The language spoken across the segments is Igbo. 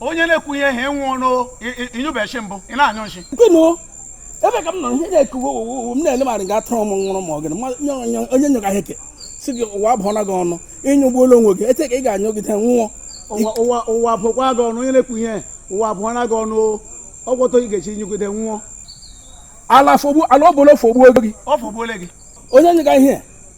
onye na-ekwu ihe ha enwe ọnụ ị nyụbe nshi mbụ ị na-anyụ nshi ebe ka m nọ ihe na-ekuwe owowo m na-ele marị ga atụrụ m nwụrụ ma ọ gịnị onye nyụga ihe ke si gị ụwa abụọla gị ọnụ ị nyụgbuola onwe gị ete ka ị ga-anyụgide nwụọ ụwa abụọkwa gị ọnụ onye na-ekwu ihe ụwa abụọla gị ọnụ ọgwọtọ ị ga-eshi nyụgide nwụọ ala ọbụla ofogbuo gị onye nyụga ihe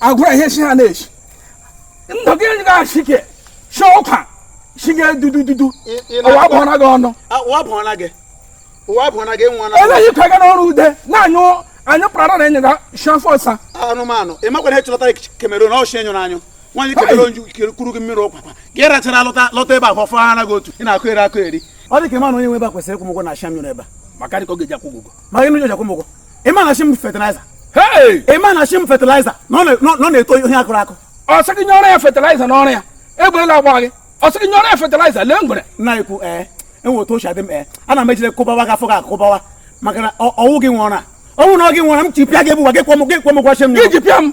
agwara ihe si ha na-esi ndụ gị ga-achị ke si ọkwa si gị dudududu ụwa abụọla gị ọnụ eleghị ka gị n'ọrụ ude na-anyụ anyị kpara na enye ga shafọsa anụmanụ ị makwana ihe chọtara Cameroon ọchị enyụrụ anyụ nwaanyị kebere onju kuru gị mmiri ụkwakwa gị rachara lọta lọta ebe a fọfọ ha anaghị otu ị na-akụ eri akụ eri ọ dị ka ị ma na onye nwe ebe a kwesịrị ịkwụ ụgwọ nshi a m nyụrụ ebe a maka dị ka ọ ga-eji akwụ ụgwọ ma gị nụ ji akwụ ụgwọ ị ma na nshi m fertilizer Hey! ị ma na nshi m fertilizer na ọ na- na ọ na-eto ihe a kụrụ akụ ọ sị gị nye ọrụ ya fertilizer n'ọrụ ya egberela agba gị ọ sị gị nye ọrụ ya fertilizer lee ngwere na-ekwu ee enwe otu o shi adị m ee ana m ejide kụbawa gị afọ gị akụbawa maka na ọ- ọ wụ gị nwe ọrụ na ọ wụ na ọ gị nwe ọrụ m chi pịa gị ebuwa gị kwọ m gị kwọ m gwachi m gị ji pịa m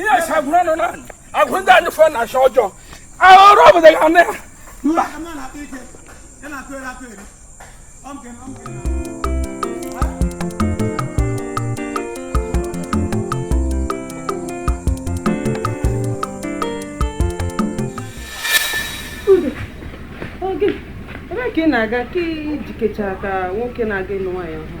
ihe sagwuru ọnụ na agwụ ndị anyị fọ na achọ ọjọọ ahụrụ obodo ga na ya mba ebe ka ị na-aga ka i jikecha ka nwoke na-aga ịlụ nwaanyị ọhụrụ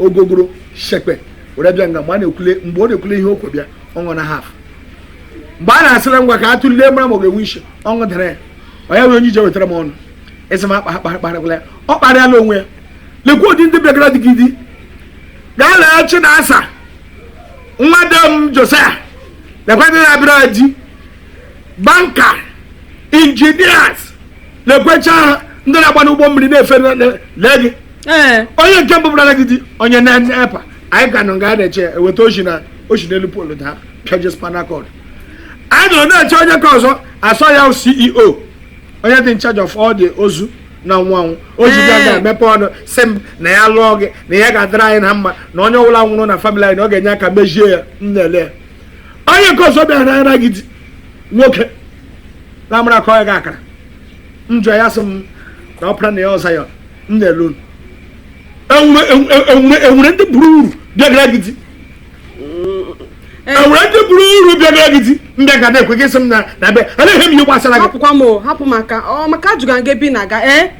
ogogoro shekpe were bịa nga mgbe a na-ekwule mgbe ọ na-ekwule ihe o ku bịa ọ nọ na half mgbe a na-asịla ngwa ka a tụlee mara ma ọ ga-enwe isi ọ ṅụdara ya onye nwere onye i ji wetara m ọnụ ị sị m akparịkwala ya ọ kparịala onwe ya lekwa ụdị ndị bịagara di gị di gaa lee Chinasa nwa de m Josiah lekwa ndị na-abịara di banker engineers lekwecha ha ndị na-agba n'ụgbọ mmiri na-efe lee gị ee onye nke mbụ bịara gị di onye NEPA anyị ka nọ nga a na-eche eweta o shi na o shi n'elu pole daa pịaje spinal cord anyị nọrọ na-eche onye nke ọzọ sị ọ ya CEO onye dị in charge of all the ozu na-anwụ anwụ o ji bịa Ee. ga-emepe ọnụ sị m na ya lụọ gị na ya ga-adịrị anyị na mma na onye ọbụla nwụrụ na family anyị na ọ ga-enye aka mejie ya m na-ele ya onye nke ọzọ bịagara gị di nwoke na-amara ka ọ ya ga-akara njọ ya sị m na ọpara na ya ọza ya m na-ele unu enwere ndị bara uru bịagara gị di enwere ndị bara uru bịagara gị di ndị ga na-ekwe gị sị m na na be a na-ehe m ihe gbasara gị hapụkwa m o hapụ maka ọ maka ajụga gị bi na aga ee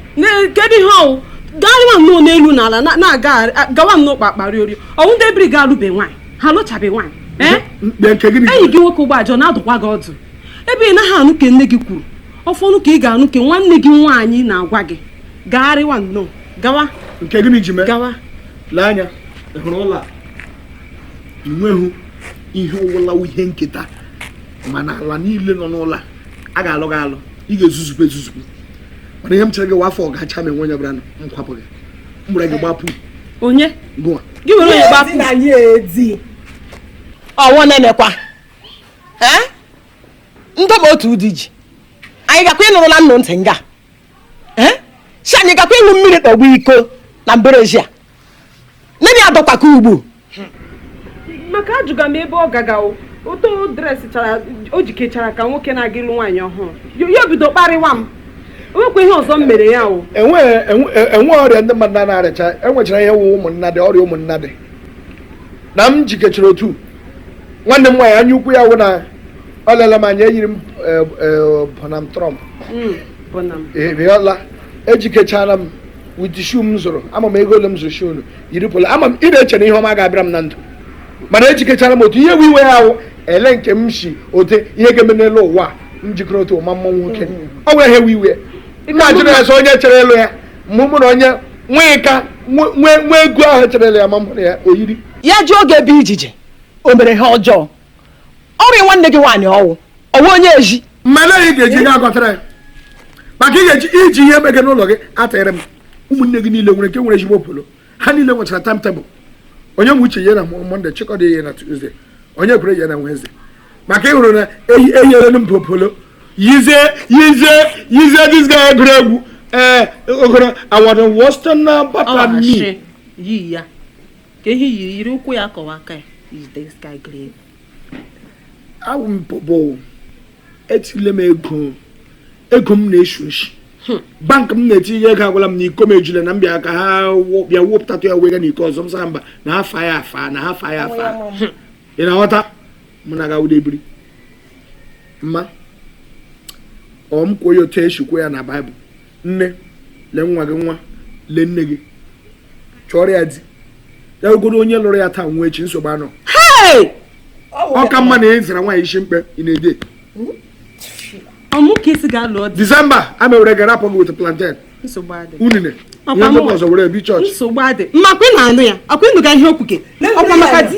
kedu ihe ọ wụ gaa nwa nnọọ n'elu na ala na-aga gawa nnọọ kpakpa rịọrịọ ọ wụ ndị ebiri gị alụbe nwaanyị ha alụchabe nwaanyị ee mkpe nke gịnị enyi gị nwoke ụgbọ ajọ na-adụkwa gị ọdụ ebe ị naghị anụ nke nne gị kwuru ọfọnụ ka ị ga-anụ ka nwanne gị nwaanyị na-agwa gị gagharịwa nnọọ gawa nke gịnị ji mee gawa lee anya ị hụrụ ụlọ a i nweghị ihe ọwụla ihe nketa mana ala niile nọ n'ụlọ a a ga-alụ gị alụ ị ga-ezuzukwa ezuzukwa mana ihe m chere gị wa afọ a gachaa ma o nweghị onye bịara m kwapụ gị m gbara gị gbapụ onye gụwa gị were onye gbapụ ọwụ nenekwa ee ndị ma otu ụdị ji anyị gakwa ịnụrụla nnụ ntị nga si anyị gakwa ịṅụ mmiri tọgbọ iko na mberezi a nne ya dọkwaka ugbu maka ajụga m ebe ọ gaga otu ọ dresịchara o jikechara ka nwoke na-aga ịlụ nwaanyị ọhụrụ ya bido kparịwa m o nwekwa ihe ọzọ m mere ya o nwere e, e, ọrịa ndị mmadụ na-arịacha enwechara ya wụ ụmụnnadi ọrịa ụmụnnadi na m jikechara otu nwanne m nwaanyị anya ukwu ya wụ na ọ lela m anya eyiri m eh, eh, Bonham Trump Mm, bụ na m. eriola ejikechara m with shoe m zụrụ ị ma ego ole m zụrụ shoe unu yiri polo ọma m ị na-eche na ihe ọma ga-abịara m na ndụ mana ejikechara m otu ihe bụ iwe ya ahụ ele nke m si ote ihe ga-eme n'elu ụwa a, m jikere otu ụma mma nwoke ọ nwere ihe iwe iwe na-ajụ na ya sọ onye chere elu ya mụ mụ na onye nwee ka nwee nwee ego ahụ echerela ya ma mụrụ ya oyiri ya ji oge ebe ijije o mere ha ọjọọ ọrịa nwanne gị nwaanyị ọwụ ọwụ onye eji mmele ị ga-eji ihe agọtara ya maka ị ga-eji iji ihe ebe gị n'ụlọ gị atịrị m ụmụnne gị niile nwere nke nwere ezigbo polo ha niile nwechara timetable Onyeuche ya na mọnde Chikọdị ya na tuzdee Onyekwere ya na wenezde maka ị hụrụ na enyere m popolo yizie yizie yizie this guy egwuregwu ee eh, ogoro awara wọsta na bata mi yi ya ka ehi yiri yiri ụkwụ ya kọwa aka ya is this guy grave awụ m popo etile m ego ego m na-esi isi hmm. bank m na-etinye ego agwala m na iko m ejule na m bịa ka ha bịa wepụtatụ ya wega na iko ọzọ m sị ha mba na ha fa ya afa na ha fa ya afa ị na-aghọta mụ na gawude ebiri mma ọ m kwuo ya otu esi kwuo ya na baịbụl nne lee nwa gị nwa lee nne gị chọrọ ya di ya ogoro onye lụrụ ya taa nwụọ echi nsogbu anọ ọ ka mma na ị zara nwaanyị isi mkpe ị na-ede disemba a mewere gara apụ gị weta plantain unine ihe mgbakọ ọzọ were bịa chọọchị nsogbu adị mmakwa ị na-anụ ya ọkwa ị nụga ihe o kwuga ọkwa maka di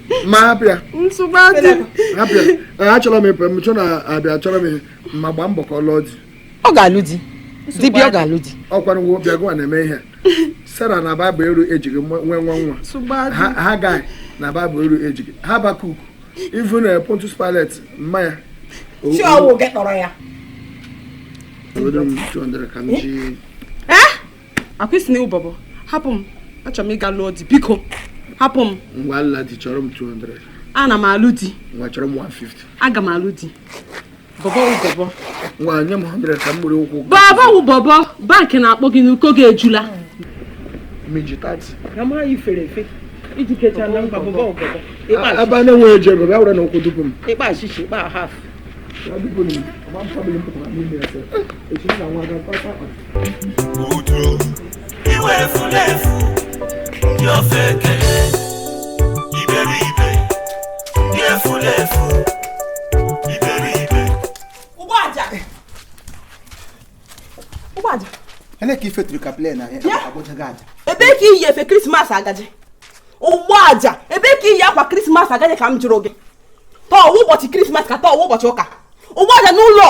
ma abịa achọrọ m ịpụ m chọ na abịa achọrọ m ma gbaa mbọ ka ọ lụọ di ọ ga-alụ di dibịa ọ ga-alụ di ọkwara nwa obi agụwa na-eme ihe sara na baịbụl eru ejighị nwe nwa nwa Hagar na baịbụl eru ejighị Habakuk even Pontius Pilate ma ya ọ wụ gị kpọrọ ya akwụsị na ụbọbọ hapụ m achọrọ m ịga lụọ di biko hapụ m ngwa nla di chọrọ m 200 ana m alụ di ngwa chọrọ m 150 aga m alụ di bọbọ ụbọbọ ngwa nye m 100 ka m gburu ụkwụ bọbọ ụbọbọ bankị na-akpọ gị n'uko gị ejula meji 30 na mara ifere efe i ji kecha na mba bọbọ ụbọbọ ebe a na-enweghị eji ego bịa were na ụkwụ dupu m ịkpa achịcha ịkpa haf uju iwe efulefu ndị ofeke iberibe ndị efulefu iberibe ụgbọaja ụgbọaja ele ka i feturu ka plen ahịa Ya. ụgbọaja ebee ka i yi efe krismas agaje ụgbọaja ebee ka i yi akwa krismas agaje ka m jụrụ gị taa ọ wụ ụbọchị krismas ka taa ọ wụ ụbọchị ụka ụgbọaja n'ụlọ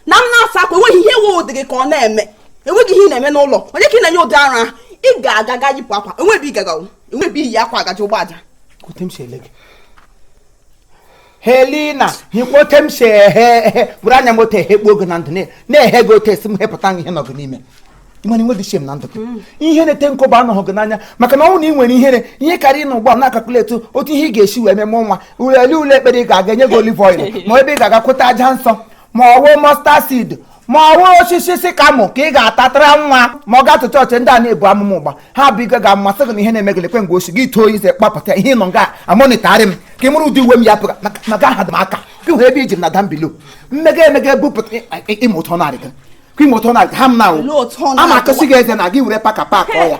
na m na-asa akwa enweghị ihe nwe ụdị gị ka ọ na-eme enweghị ihe ị na-eme n'ụlọ onye ka ị na-enye ụdị ara ahụ ị ga-aga ga yipụ akwa o nwe ebe ị ga-aga o nwe ebe i yi akwa agaje ụgbọaja helina hikwa ote m si ehe ehe bụrụ anya m ote ehekpu oge na ndụ na-ehe gị ote esi m hepụta ihe nọgụ n'ime ị ma na i nwe dịchie m na ndụ mm. ihe na-ete nkụ bụ anọghị gị n'anya maka na ọ wụ na ị nwere ihere ihe karịa na ụgbọ na-akakuletu otu ihe ị ga-esi wee meme nwa ule ule ekpere ị ga-aga enye gị olive oil ma ebe ị ga-aga kwụta aja nsọ ma ọ wụ mustard seed ma ọ wụ osisi sycamore ka ị ga-atatara nwa ma ọ gatụ chọọchị ndị a na-ebu amụma ụgha ha bụ ike ga-amasị gị na ihe na-eme gị lekwe mgbe o si gị too ize kpapụta ihe nọ nga amonịtarị m ka ị mụrụ ụdị uwe m ya pụga maka aha dị m aka ka hụ ebe i ji m na down below mmega emega ebupụta ịmụtọ narị gị ka ịmụtọ narị ha m na ama akụsị gị eze na gị were paka pak ọ ya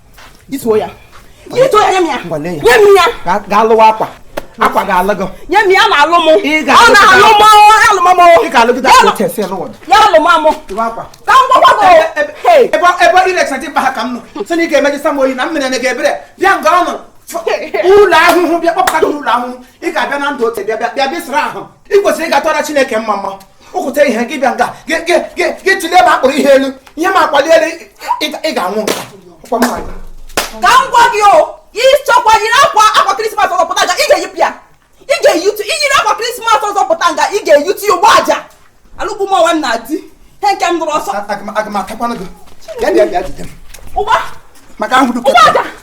ituo ya ituo ya nye m ya nye m ya gaa lụwa akwa akwa ga-alụ gị nye m ya na-alụ m ọ na-alụ m alụmamụ ị ga-alụgide akwa chesi lụwa ya alụmamụ ka m gwakwa gị ebe ebe ị na-ekesa dimkpa ha ka m nọ sị na ị ga-emeji sam oyi na m mere na gị ebere bịa nga ị nọ ụlọ ahụhụ bịa kpọpụta gị n'ụlọ ahụhụ ị ga-abịa na ndụ ote bịa bịa bịa bịsịrị ahụ ị kwesịrị ịga tụọra Chineke mma mma ụkwụta ihe gị bịa nga gị tụlee ma akpụrụ ihe elu ihe ma akwali elu ị ga-anwụ nga ka m gwa gị o ị chọkwa yiri akwa akwa krismas ọzọ pụta nga ị ga-eyipụ ya ị ga-eyitu i yiri akwa krismas ọzọ pụta nga ị ga-eyitu ya ụgbọaja alụkwụ m ọwa nna di he nke m nụrụ ọzọ aga m atakwanụ gị bịa bịa bịa jide m ụgba maka ahụ dụkọ ụgbọaja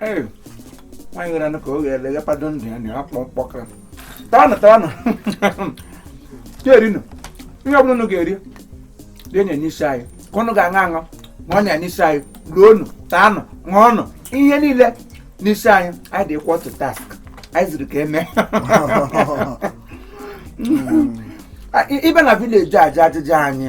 Hey, nwaanyị nwere anụ ka o ghere eghe pado ndụ ya na ya kpọọ mkpọkara tawanụ tawanụ rienụ ihe ọbụla unu ga-eri tinye n'isi anyị ka unu ga-aṅụ aṅụ ma ọnya n'isi anyị loonụ taanụ ṅụọnụ ihe niile n'isi anyị anyị dị equal to task anyị ziri ka eme ibe na village ajụ ajụjụ anyị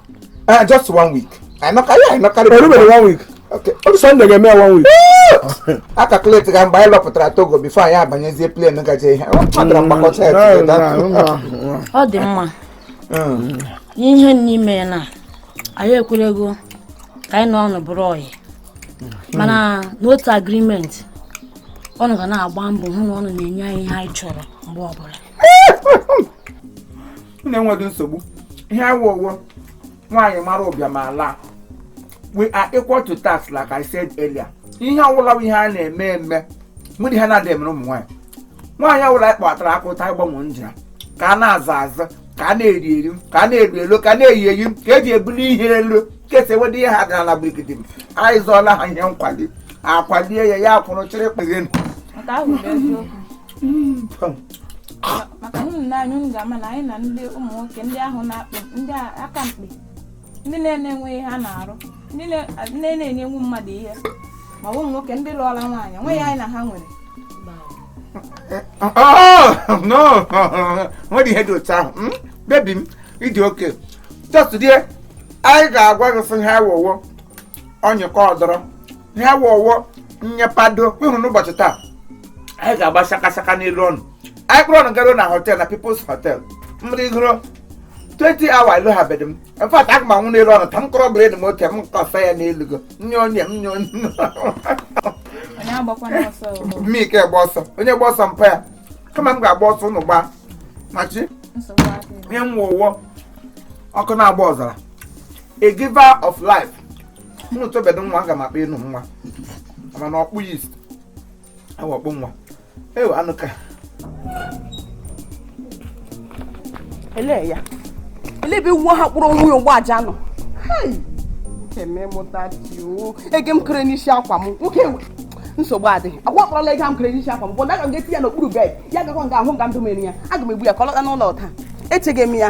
Uh, just one week. I knock, yeah, I knock. Everybody one week. Okay. Ọ dịsọ ndị ga-eme one week. A calculate ka mgbe anyị lọpụtara Togo before anyị abanyezie plane gaje ihe. Ọ dara mgbakọta ya tupu ịda. Ọ dị mma. Ihe na-eme na anyị ekwerego ka anyị na unu bụrụ ọyị. Mana n'otu agreement unu ga na-agba mbọ hụ na unu na-enye anyị ihe anyị chọrọ mgbe ọbụla. unu enweghị nsogbu ihe a wụ wụ nwaanyị mara ụbịam ala we are equal to task like I said earlier ihe ọwụla wụ ihe a na-eme eme were ha na-adị emere ụmụ nwaanyị nwaanyị ọwụla anyị kpatara aka ụta ịgbanwe ndụ ya ka a na-aza aza ka a na-eri eri ka a na-eri elu ka a na-eyi eyi ka eji ebuli ihe elu ka esi ewede ihe ha daruo ala gbigidim anyị zọọla ha ihe nkwali akwalie ya ya akwụrụ chịrị kpeghe nke ahụ bụ eziokwu Mm, come. maka na unu nee anya unu ga-ama na anyị na ndị ụmụ nwoke ndị ahụ na-akpị ndị a- aka mkpi ndị na-enweghị ihe ha na-arụ ndị na- ndị na-enyenwu mmadụ ihe ma ọ bụ ụmụ nwoke ndị lụọla nwaanyị nwe ya anyị na ha nwere O nwere ihe dị otu ahụ? Hmm? Baby m, ị dị okay. Just today, anyị ga-agwa gị sị ihe a wụ wụ onye ka ọ dọrọ ihe a wụ wụ onye pado ịhụrụ n'ụbọchị taa anyị ga-agba shakashaka n'elu unu anyị kpụrụ unu garuo na hotel na People's Hotel mmadụ igoro 20 hours ịlụghabedị m in fact aga m anwụ n'elu unu taa m kọrọ bred m oke m kọsa ya n'elu gị nye onye m nye onye onye agbakwana ọsọ o. mmike gba ọsọ onye gba ọsọ mpa ya kama m ga-agba ọsọ unu gbaa machi nsogbu adịghị ihe m wụ wụ ọkụ na-agba ọzara a giver of life mụrụ tọbedo nwa aga m akpa unu nwa mana ọkpụ yist awa ọkpụ nwa ewe anụ ka ele ya ele ebe nwa ha kpụrụ onwe ya ụgbọ aja na ego m kere n'isi akwa m nwoke ewe nsogbu adịghị agwa kpọrọla ego m kere n'isi akwa m bụ na aga m ga-eti ya n'okpuru bed ya gakwa nga ahụ nga ndụ mere ya aga m egbu ya ka ọ lọta n'ụlọ taa echeghị m ya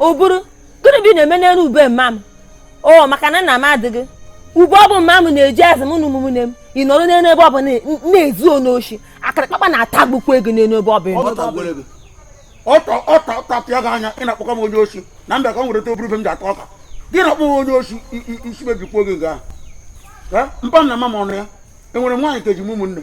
ọ bụrụ gịnị bụ ị na-eme n'elu ube mma m o maka na nna m adịghị ube ọbụ mma m na-eji azụ m na ụmụnne m ị nọrọ n'elu ube ọbụ na-ezu onye oshi akara kpakpa na-atagbukwa gị n'elu ube ọbụ na m bịa ka m wereta ube m ji ata ọka gị na-akpọ m onye oshi isi mebikwa gị nke ahụ mpa m na mma m ọnụ ya enwere m nwaanyị ka eji m ụmụnne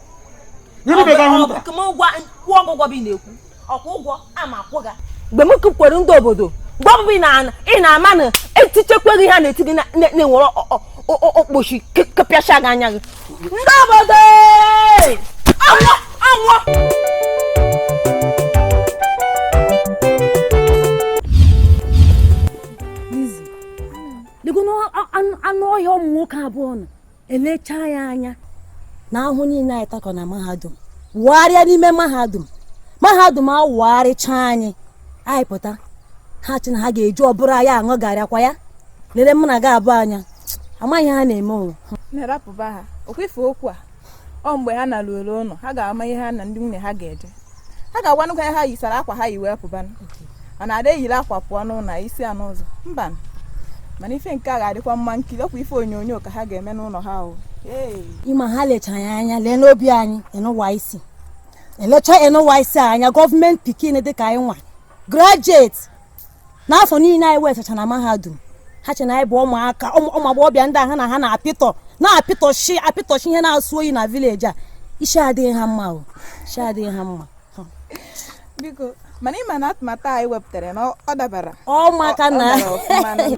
mgbe m kwukwere ndị obodo mgbe ọbụ ị na-ama na etichekweghị ha na-eti gị na-enwere okpochi ka apịachaa gị anya gị ndị obodo anwụọ anwụọ anụ ọhịa ụmụ nwoke abụọ nọ elechaa anyị anya na ahụhụ niile anyị takọ na mahadum wagharịa n'ime mahadum mahadum awagharịchaa anyị anyị pụta ha che na ha ga-eji ụbụrụ anyị aṅụ garri ọkwa ya lere mụ na gị abụọ anya amaghị ihe ha na-eme ụwa nne rapụba ha ọkwa ife okwu a ọ mgbe ha naruo ụlọ ha ga-ama ihe ha na ndị nwunye ha ga-eje ha ga-agwanụ ka ha yisara akwa ha yi wee pụbanụ ọ na-ada eyiri akwa pụọ n'ụlọ yisịa n'ụzọ mba mana ife nke a ga-adịkwa mma nkiri ọkwa ife onyonyo ka ha ga-eme n'ụlọ ha o ị ma ha lechara anyị anya lee n'obi anyị enụwa isi elecha enụwa isi anya gọọmenti pikin dịka anyị nwa graduate n'afọ niile anyị wetacha na mahadum ha che na anyị bụ ụmụaka ụmụ ụmụ agbọghọbịa ndị a ha na ha na-apịtọ na-apịtọchi apịtọchi ihe na-asọ oyi na village a isi adịghị ha mma o isi adịghị ha mma biko mana ị ma na atụmatụ a anyị wepụtara na ọ- ọ dabara ọ maka Ọ- ọ na dara ọfụma na-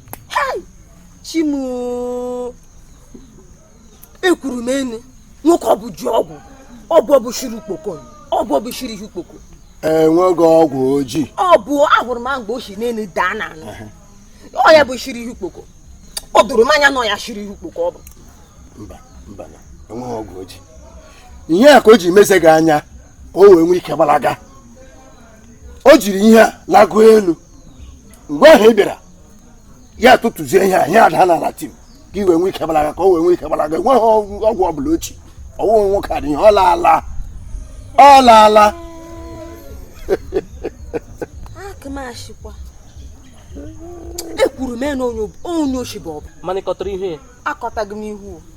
chi m oo ekwuru m na nwoke ọbụ ji ọgwụ ọgwụ bụ shiri ukpoko ọgwụ bụ shiri ihe ukpoko enweghị ọgwụ o ji ọ bụ ahụrụ m mgbe o si n'elu daa n'ana ọ ya bụ shiri ihe ukpoko o doro m anya na ọ ya shiri ihe ukpoko ọ bụ mba mba na enweghị ọgwụ o ji ihe a ka o ji mezie gị anya ka o wee nwee ike gbalaga o jiri ihe a lagoo elu mgbe ahụ ị bịara ya tụtụzie ihe a ihe a adaa n'ala tim ka i wee nwee ike gbalaga ka o wee nwee ike gbalaga enweghị ọgwụ ọgwụ ọbụla o ji ọ wụghị nwoke a dị ihe ọ laala ọ laala aka m ashịkwa ekwuru m na onye oshi bụ ọbụ mana ị kọtara ihu ya akọtaghị m ihu o.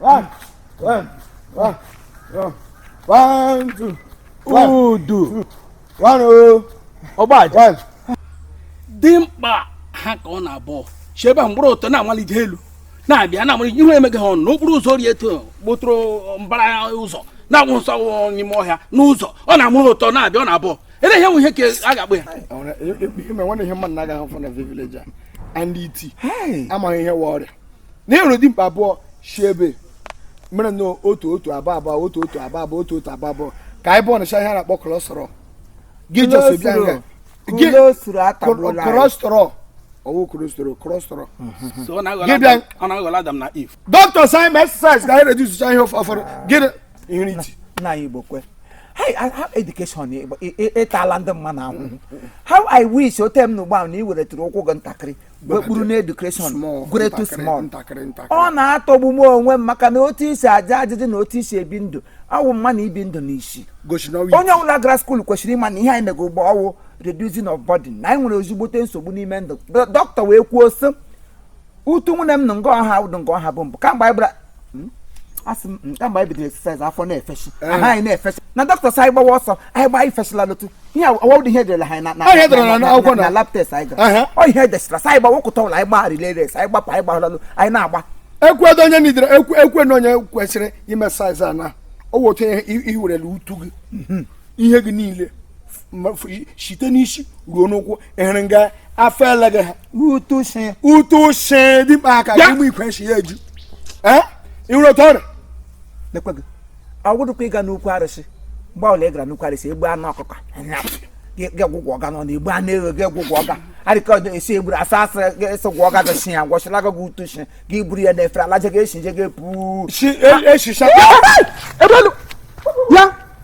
One, one, one, one, one, two, one, Udu. one, oh, Ọgbaji. one. dimkpa ha ka unu abụọ si ebe a gbụrụ ọtọ na-amalite elu na-abịa na-amalite ihu emeghị ha ọnụ n'okporo ụzọ rie eto gbotụrụ mbara ụzọ na-agba ọsọ ọ wụ n'ime ọhịa n'ụzọ ọ na-amụrụ ụtọ na-abịa ọ na-abụ ele ihe nwe ihe ka a ga-akpụ ya I wanna- e- e- ihe mere nwanne ihe m na-agaghị afụ na village a ndị iti amaghị ihe wụ ọrịa na ịhụrụ dimkpa abụọ si ebe mere na otu otu abụ abụ otu otu abụ abụ otu otu abụ abụ ka anyị bọnịcha ihe a na-akpọ kọlọsọrọ gị jọsọ bịa nga gị kọlọsọrọ ọ wụ kọlọsọrọ kọlọsọrọ gị bịa dọkịta sị anyị mee exercise ka anyị redusicha ihe ụfọdụ gị ihu n'iti nna anyị igbo kwe ha education ịtala ndị mma na ahụhụ how i wish ote m na ugbo ahụ na ị weretụrụ ụkwụ gị ntakịrị wekpuru na education gretu small ọ na-atọgbu m onwe m maka na otu i si aja ajụjụ na otu i si ebi ndụ ọ wụ m ma na i bi ndụ n'isi onye ọbụla gara skuulu kwesịrị ịma na ihe anyị mega ugbo ọ wụ reducing of body na anyị nwere ezigbote nsogbu n'ime ndụ dọkịta wee kwuo sị utu nwunye m na nga ọ ha ụdụ nga ọ ha bụ mbụ kamgbe anyị gbara hmm? asị m nke mgbe anyị bidoro exercise afọ na-efeshi eh. aha anyị na-efeshi na dọkịta sị anyị gbawa ọsọ anyị gbaa ifeshila lotu ihe ọ wụdị ihe e dere ha na lab test anyị gara ọ ihe e desịra sị anyị gbawa ụkụta ụlọ anyị gbaa relay race anyị gbapụ anyị gbahụlalụ anyị na-agba ekwedo onye nidere ekwe na onye kwesịrị ime exercise a na ọ wụ otu ihe i werele utu gị mhm. ihe gị niile site n'isi ruo n'ụkwụ ị hụrụ nga afọ ele gị ha ụtụ shi dịkpa aka gị mgbe ikwe shi ya eju ị hụrụ otu ọrịa lekwe gị ọ gwụdụkwa ị ga n'ukwu arụsị mgbe ọbụla ị gara n'ukwu arụsị egbu anụ ọkụkọ gị gwụgwọ ọga nọ na egbu anụ eghe gị gwụgwọ ọga arịka ọdụ esi egburu asa asa esi gwọ ọga gị si ya gwọchila gị gị ụtụ shi gị buru ya na efere alaje gị eshi je gị puu e, e, e, ya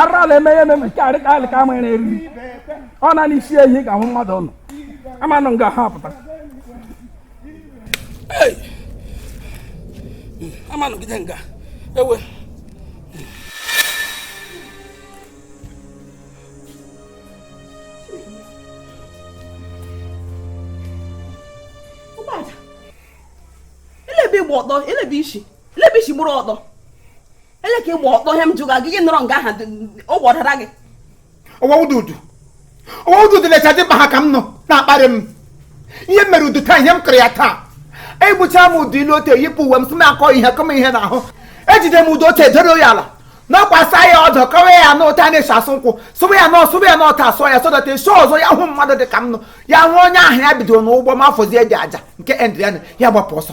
arala emeghe eme nke arịka alịka ama ya na-eriri ọ na n'isi ehi ka hụ mmadụ nọ amanụ nga ha pụta amanụ gide nga ewe elebe ị gba ọtọ elebe isi elebe isi gbụrụ ọtọ ele ka ị gba ọtọ ihe m jụga gị nọrọ nga aha ọ gwọdara gị ọwa ududu ọwa ududu lecha dimkpa ha ka m unu na-akparị m ihe m mere udu taa ihe m kụrụ ya taa egbucha m udu ilu ote yipụ uwe m sị m akọ ihe kọm ihe n'ahụ ejide m udu ote doro ya ala nakwasa ya ọdọ kọwa ya na ụta na-esi asụ nkwụ sụwa ya na ọsụwa ya na ọta asụọ ya sọdọta esi ọzọ ya hụ mmadụ dị ka m nọ ya hụ onye ahụ ya bidoro n'ụgbọ ma afọzie dị aja nke endriana ya gbapụ ọsọ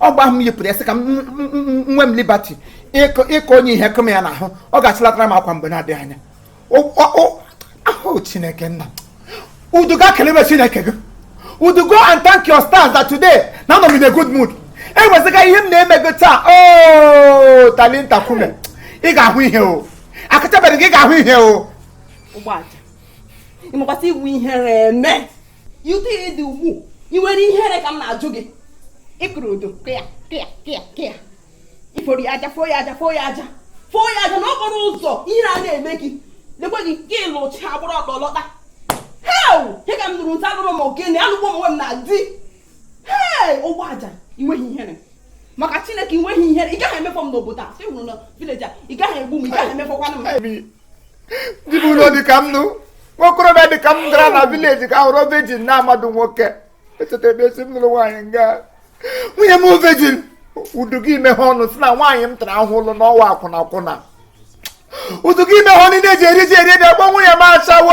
ọ gba ahụ m yipụrụ ya sị ka m m- m- m- nwe m liberty ịkọ ịkọ onye ihe kụ m ya n'ahụ ọ ga-achịlatara m akwa mgbe na-adịghị anya O- o- o- ahụ chineke nna udu gaa kelebe chineke gị udu go and thank your stars that today na anọ m in a good mood enwezighị ihe m na-eme gị taa o talinta kume ị ga-ahụ ihe o akachabeghị gị ị ga-ahụ ihe o Ogbuaja ị makwa sị ị wụ ihere eme otu ị dị ugbu a ị nwere ihere ka m na-ajụ gị ị kụrụ udu kịa kịa kịa kịa ị foro ya aja foo ya aja foo ya aja foo ya aja n'okporo ụzọ ihere a na-eme gị lekwa gị nke ị lụchaa gbara ọtọ lọta hei ihe ka m nụrụ nta alụrụ m ogene alụgbuo m onwe m na di hei Ogbuaja ị nweghị ihere maka chineke ị nweghị ihere ị gaghị emefọ m n'obodo a sị hụrụ na village a ị gaghị egbu m ị gaghị emefọkwanụ m dibiụlọ dịka m nụ nwokorobịa dịka m gara na village gaa họrọ virgin nwa amadị nwoke echeta ebe esi m lụrụ nwaanyị nga nwunye m virgin udu gị ị meghee ọnụ sị na nwaanyị m tara ahụhụ lụọ na ọ wụ akwụna akwụna udu gị ị meghee ọnụ e ji eri ji eri ede akpọ nwunye m ashawo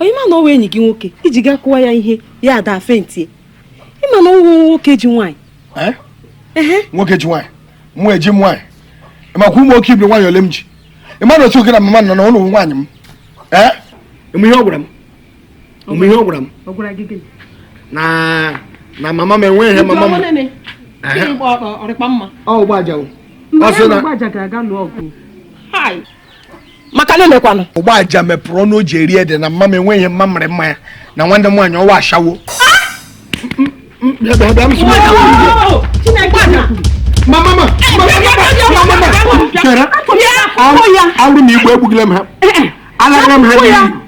onye ma na ọ wụ enyi gị nwoke i ji gaa kụwa ya ihe ya adaa faintie ị ma na ọ wụ nwoke ji nwaanyị eh? nwoke ji nwaanyị mụ eji m nwaanyị ị makwa ụmụ okeibiri nwaanyị ole m ji ị ma na otu oke na mama nọ na ụlọ nwaanyị m eh? ị ma ihe ọ gwara m ị ma ihe ọ gwara m na na mama m enweghị ihe mama m ọ sị na maka na lekwanụ Ogbuaja mepụrụ ọnụ o ji eri ede na mma m enweghị mma mụrụ mma ya na nwanne m nwaanyị ọ wụ ashawo ọ wụrụ na igbu egbughị m ha alaghara m ha n'iyi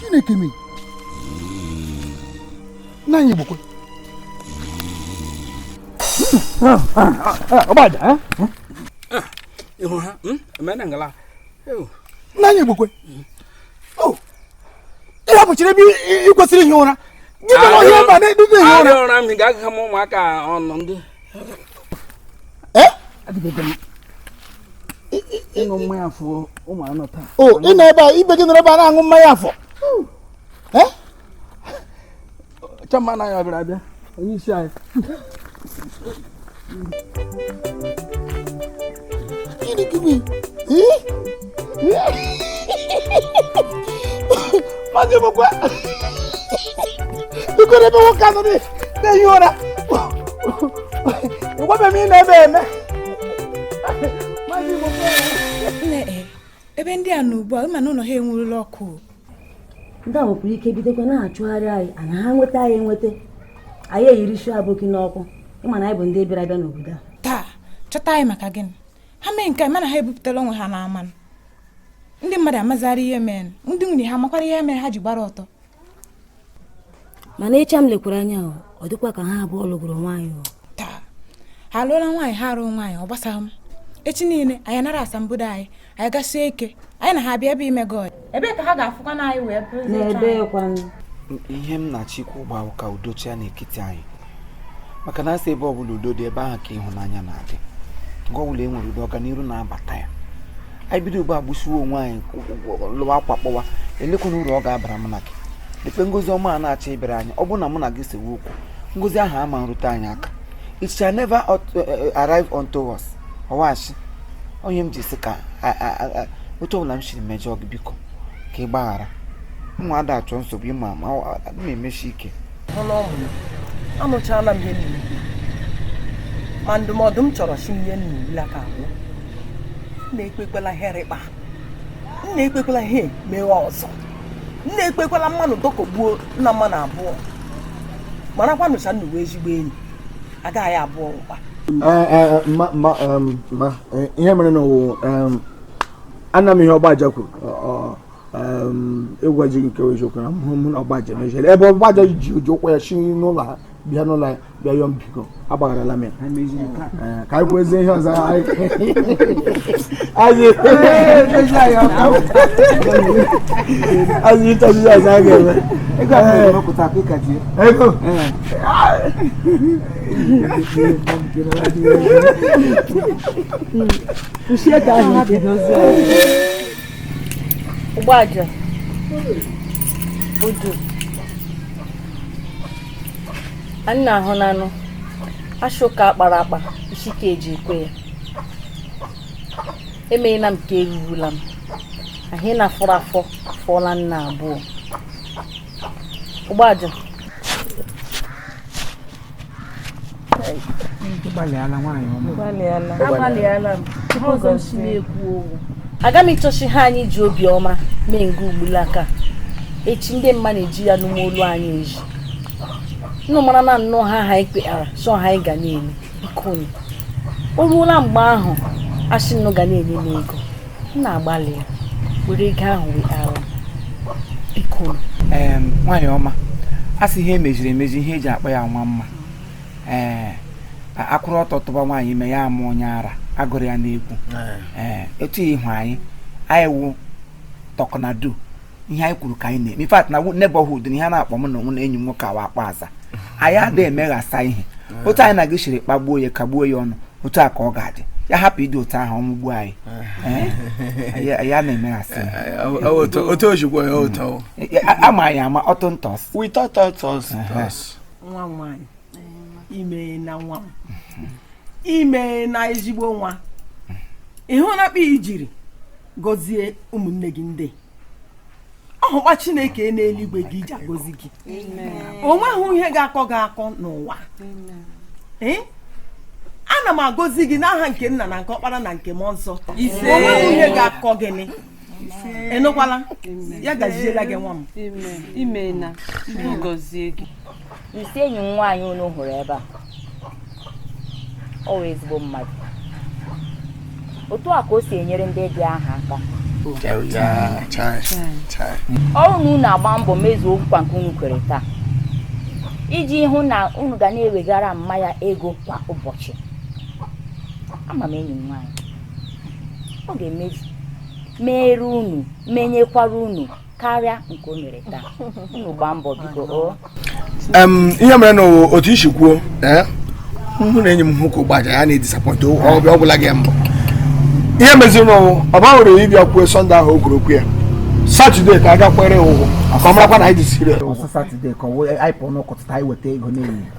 chineke m nna anyị Igbokwe Ogbuaja ịhụ ha emena ngala nna anyị Igbokwe ihe bụchiri ebe ị kwesịrị ihi ụra gị bụ ọhịa mba na-eduzi ihi ụra ụra m ga-agụgha m ụmụaka ọnụ ndị o ị nọ ebe a ibe gị nọrọ ebe a na-aṅụ mmanya afọ chama na ya bịara abịa onye isi anyị Gịnị gịnị? Maazị Igbokwe, biko n'ebe nwoke a nọ na-ehi ụra. A gwabeghị m ihe na-eme eme. Maazị Igbokwe. Nne, ebe ndị a nọ ugbu a, ị ma na ụlọ ha enwurula ọkụ. ndị a nwekwara ike bidokwa na-achụgharị anyị ana ha nweta anyị enweta anyị erie isi aboki n'ọkụ ịma na anyị bụ ndị bịara abịa n'obodo a taa chọta anyị maka gịnị ha mee nke mana ha ebupụtala onwe ha n'ama ndị mmadụ amazara ihe mere ndị nwunye ha makwara ihe mere ha ji gbara ọtọ mana ịcha m lekwara anya ọ dịkwa ka ha abụọ lụgoro nwaanyị taa ha lụọla nwaanyị ha alụghị nwaanyị ọ gbasaghị m echi niile anyị nara asambodo anyị anyị agasie ike anyị na ha bịa ebe ime god ebee ka ha ga-afụkwa na anyị wee ihe m na-achọkwa ugbua wụ ka udo chịa n'ekiti anyị maka na asị ebe ọbụla udo dị ebe ahụ ka ịhụnanya na-adị nga ọbụla e nwere udo ọganihu na-abata ya anyị bido ugbu a gbusiwe onwe anyị lụwa akwa kpọwa elekwanụ uru ọ ga-abara m na gị lekpe ngozi ọma a na-achọ ịbịara anyị ọ bụrụ na mụ na gị sewe okwu ngozi ahụ ama erute anyị aka it shall never uh, uh, arrive unto us ọwachi onye m ji sị ka otu ọbụla m siri mejọọ gị biko ka ị gbaghara mụ ada achọ nsogbu ịma ma m emesi ike anụchala m ihe niile ma ndụmọdụ m chọrọ sị m nye nnụ ugbulaka bụ nna ekpekwala ihe rị kpa nna ekpekwala ihe mewe ọzọ nna ekpekwala mmanụ dọkọgbuo nna mmanụ abụọ marakwanụ sị nnụ wụ ezigbo enyi agaghị abụọ ụkpa eh, eh, eh, um, ihe mere na ọ wụ um, anụla m ihe ọgbaja kwuru ịgwa gị nke eziokwu na mụ mụ na ọgbaja mejọrọ ebe ọgbaja ji ụjọ ụkwụ ya si n'ụlọ ha bịa n'ụlọ ya bịa yọọ m biko agbagharala m ya Ee, ka anyị kwuezie ihe ọzọ anyị anyị anyị ịchọzi ihe ọzọ anyị ga-eme Ee, ego Usieka ahụ bidozie. Ogbaja. Ojo. Anyị na-ahụ n'anụ. Asị ụka akpara akpa isi ka eji ekwe ya. Emeghịla m ka erurula m. Ahụ ị na-afọrọ afọ fọọla nna abụọ. Ogbaja. gbalịala nwaanyị ọma gbalịala agbalịala m ihe ọzọ m si na-ekwu ọ wụ aga m ịchọ sị ihe a anyị ji obi ọma mee nga ugbulaka echi ndị mmanụ eji ya nụma olu anyị eji nnụ mara na nnụ ha ha ikpeara chọọ ha anyị ga na-eme bikoni o ruola mgbe ahụ asị nnụ ga na-enye m ego nna agbalịa were ego ahụ wee ara biko ee nwaanyị ọma a sị ihe emeziri emezi ihe eji akpọ ya nwa mma ee akwụrụ ọtọ tụba nwaanyị ime ya amụọ onye ara agụrụ ya n'egwu ee etu ịhụ anyị anyị wụ talk na do ihe anyị kwuru ka anyị na-eme in fact na neighborhood na ihe a na-akpa mụ na onwe na enyi m nwoke awa akpa aza anyị adịghị emeghasa ihe otu anyị na gị siri kpagbuo ya kagbuo ya ọnụ otu a ka ọ ga-adị ya hapụ ịdị otu ahụ ọnwụ gbuo anyị ya na-emeghasị otu ojikwa ya ụtọ ama anyị ama ọtụ ntọs nwa nwaanyị imeena nwa imeena ezigbo nwa ihe na-akpa ijiri gọzie ụmụnne gị ndị ọhụkwa chineke n'eluigwe ga-eji agọzi gị o nweghị ihe ga-akọ gị akọ n'ụwa ee ana m agọzi gị n'aha nke nna na nke ọkpara na nke mmụọ nsọ o nweghị ihe ga-akọ gị ị nụkwala ya gaziela gị nwa m imeena gọzie gị isee enyi m nwaanyị unu hụrụ ebe a ọ wụ ezigbo mmadụ otu a ka o si enyere ndị dị aha aka ọ wụrụ na unu agbaa mbọ mezuo ọkwụkwa nke unu kwere taa iji hụ na unu ga na-ewegara mma ya ego kwa ụbọchị ama m enyi m nwaanyị ọ ga-emezu meere unu menyekwara unu karịa nke o mere taa unu gbaa mbọ biko o ihe mere na otu i si kwuo eh, mụ na enyi m hụ ka ụgbaja ya na-edisappoint ọbịa ọgwụla gị mbụ ihe meziri na ọ gbanwere ịbịa kwuo sọnde ahụ o kwuru okwu ya satọde ka a gakwere ụgwọ ka ọ marakwa na anyị dị serious satọde ka anyị pụọ n'ụtụtụ anyị weta ego n'ehihie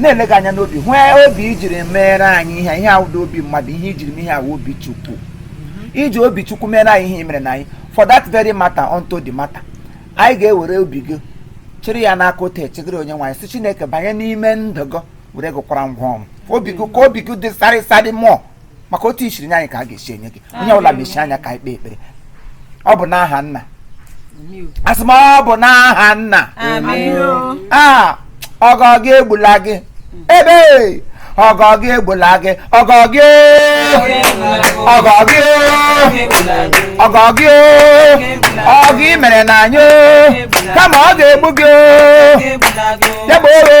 na-ele gị anya n'obi hụ obi i jiri meere anyị ihe ihe awụda obi mmadụ ihe i jiri mee ihe a wụ obi chukwu i ji obi chukwu meere anyị ihe i meerena anyị for that very matter unto the matter anyị ga-ewere obi gị chịrị ya n'aka otu echegịrị onyenweanyị si chineke banye n'ime ndụ gị were gị kwara ngwa ọrụ obi gị ka obi gị dị sarịsarị mụọ maka otu i siri nye anyị ka a ga-esi enye gị onye ọbụla mechie anya ka anyị kpee ekpere ọ bụ n'aha nna asị m ọ bụ n'aha nna a ọgọ gị egbula gị ebe ọgọ gị egbula gị ọgọ gị ọgọ gị ọgọ gị ọgọ i meerena anyị kama ọ ga-egbu gị ya bụ oghe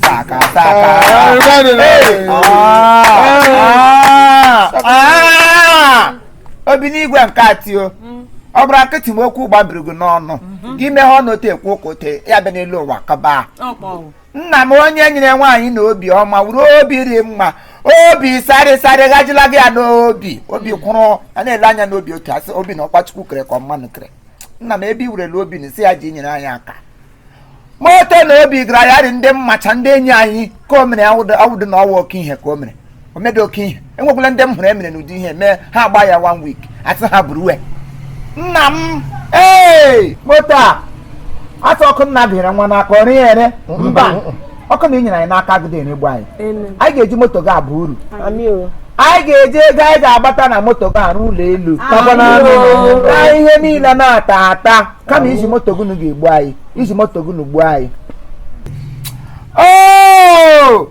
saka saka obinigwe nke atio ọ bụrụ akịtị m okwu gbabiri gị n'ọnụ gị meghe ọnụ otu ekwu ụka ote ya bịa n'elu ụwa kaba nna m onye nyere nwaanyị na obi ọma wụrụ obi rị mma obi sarị sarị ghajila gị ya n'obi obi kwụrụ a na-ele anya n'obi otu asị obi na ọkpachukwu kere ka ọ mmanụ kere nna m ebe i werela obi na isi ya ji nyere anyị aka moto na obi gara ya dị ndị m macha ndị enyi anyị ka o mere awụdị na ọ wụ oke ihe ka o mere o mebeghị oke ihe enwekwala ndị m hụrụ emere n'ụdị ihe mee ha agba ya one week asị ha buru uwe nna m ee moto a asị ọkụ nna bịara nwa n'aka ọrụ ya ere mba ọkụ na inyere anyị n'aka agụụ na-egbu anyị anyị ga-eji moto gị abụ uru Amị o. anyị ga-eji ego anyị ga-agbata na moto gị arụ ụlọ elu Amị o. na ihe niile na-ata ata kama iji moto gunu ga-egbu anyị iji moto gunu gbuo anyị Oh!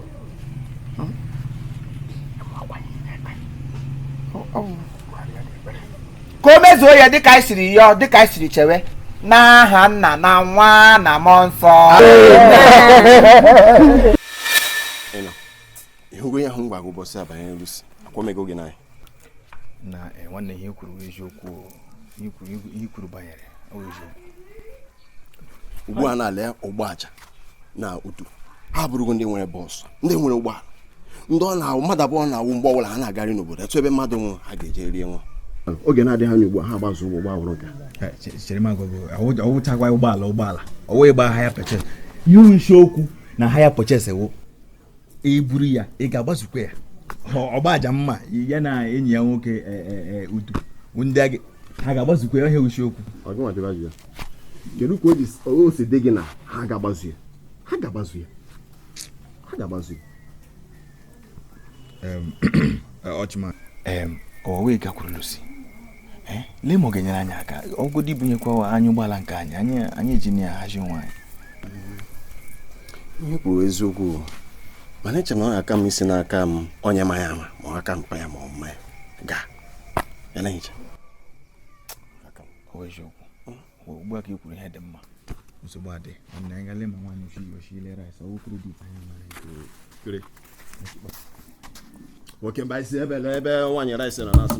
ka o mezuo ya dịka anyị siri yọọ dịka anyị siri chewe n'aha nna na nwa na mmụọ nsọ ịhụgo ihe ahụ m gwa gị ụbọchị a banyere Lucy akwamego gị n'anya na eh, nwanne ihe i kwuru eziokwu ihe i kwuru banyere eziokwu ugbu a na-ala ụgbọ aja na otu ha bụrụgo ndị nwere bọọsụ ndị nwere ụgbọala ndị ọ na-awụ mmadụ abụọ na-awụ mgbe ọbụla ha na-agarị n'obodo etu ebe mmadụ nwụrụ ha ga-eje rie nwa oge na-adịghị anya ugbu a ha gbazụ ụgbọ gbawụrụ nka ọwụchakwa ụgbọala ụgbọala ọwụ ịgba hire purchase ihe isi okwu na hire purchase wụ eburu ya ị ga-agbazukwa ya ọgba aja mma ya na enyi ya nwoke e, e, e, ụdị ndị ha ga-agbazukwa ya ihe wụ isi okwu kedu ka o si dị gị na ha ga-agbazu ya ha ga-agbazu ya ha ga-agbazu ya ọchịma ka o wee gakwuru Lucy eh, lee ma ọ ga-enyere anyị aka ọ wụgodu ibunyekwa anyị ụgbọala nke anyị anyị anyị jiri ya hazie onwe anyị ihe i kwuru wụ eziokwu mana eche m na ọ ga-aka mma isi n'aka onye ma ya ama ma ọ aka mpa ya ma ọ mma ya gaa ya na ehicha ọ bụ eziokwu ugbu a ka ị kwuru ihe dị mma nsogbu adịghị anyị gale ma nwaanyị oshi oshi ile rice ọ wụ credit anyị mara kere nwoke mba isi ebe na ebe nwaanyị rice nọ na-asụ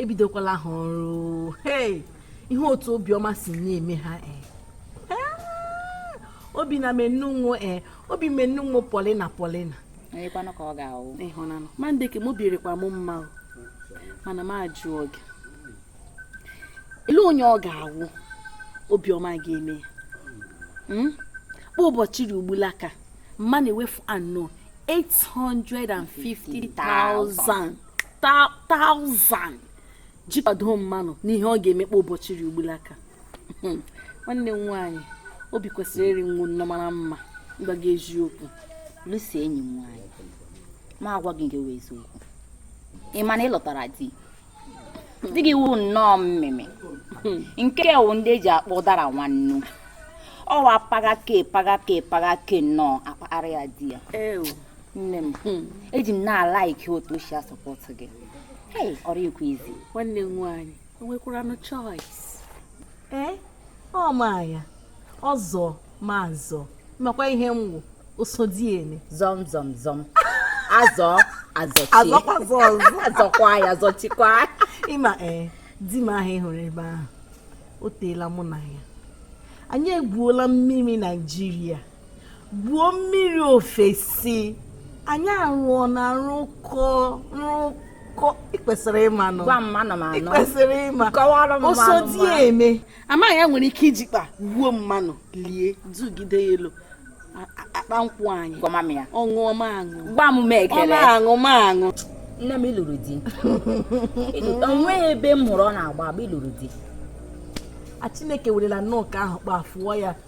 ebidokwala ha ọrụ hey ihe otu Obiọma si na-eme ha ee obi na-emenụ m wo ee obi menunwo polina polina onyekwanụ ka ọ ga-awụ ịhụnanụ ma ndị ka m obi rịkwa m mma o mana m ajụ oge ele onye ọ ga-awụ Obiọma ga-eme ya Hmm? kpa ụbọchị ri ugbula ka m na-ewefu anọ 850,000 taụzand ji kwado mmanụ n'ihe ọ ga-emekpa ụbọchị ri ugbulaka hmm. nwanne m nwaanyị obi kwesịrị ịrị nwu nnọọ mara mma gwa gị eziokwu Lucy enyi m nwaanyị ma agwa gị nke wụ eziokwu ị ma na ị lụtara di di gị wụ nnọọ mmemme nke wụ ndị eji akpọ ụdara nwannu ọwa pagake pagake pagake nnọọ akpagharị ya di ya nne m hmm. eji m na-alaiki otu o si asọpọtụ gị ọrụ ikwu izi nwanne m nwaanyị enwekwara nụ choice ee eh? ọ ma ya ọ zọ m azọ makwa ihe m wụ osodieme zọm zọm zọm azọ azọkwa ya zọchikwa ịma ee eh, di m ahụ ịhụrụ ebe ahụ o teela mụ na ya anyị egwuola mmiri naijiria gwuo mmiri ofesi anyị arụọna rụkọ rụkọ ịkwesịrị ịma nọ gwa mma nọ m anọ ịkwesịrị ịma kọwara m osodieme amaghị ya nwere ike ijikpa gbuo mmanụ lie dugide ya elu a- a- akpa nkwụ anyị gwa m ya ọṅụọ ma aṅụ gba m m ọ ekele na-aṅụ ma aṅụ nne m ịlụrụ di Ịlụ- o nweghị ebe m hụrụ ọ na-agba agba ịlụrụ di a chineke werela nnọọ ka ahụ kpa fụọ ya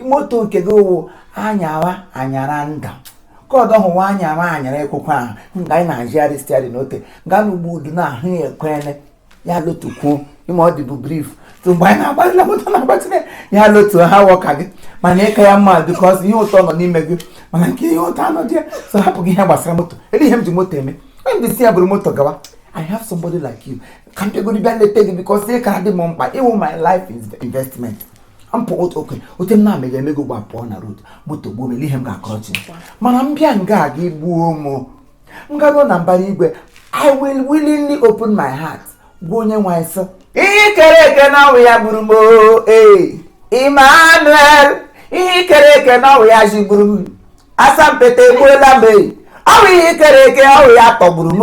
moto nke gị wụ anyara anyara nda ka ọdọ hụwa anyara anyara ekwekwe ahụ nga anyị na-ajịgharị stiarin otu nga na ugbo udu na ahụ ya ekwene ya lotukwuo ịma ọ dịbụ brif so mgbe anyị na-agbatịla moto na-agbatịla ya lotu ha wọka gị mana ịka ya mma bikọs ihe ụtọ nọ n'ime gị mana nke ihe ụtọ anọghị ya so hapụ gị ihe gbasara moto ele ihe m ji moto eme onye m desi ya buru moto gawa I have somebody like you. Can't you go to bed and take it because they can't do my life investment. mpụ oke ote m na-amega emego gbapụọ na rod moto gbuo m elee ihe m ga-akọrọ chi mana m bịa nga a gị gbuo m m garuo na mbara igwe i will willingly open my heart gwa onye nwe anyị sị ihe kere eke na ọ wụ ya gburu m oo, ee Emmanuel ihe kere eke na ọ wụ ya jigburu m asampete egbuola m ee ọ wụ ihe kere eke ọ wụ ya tọgburu m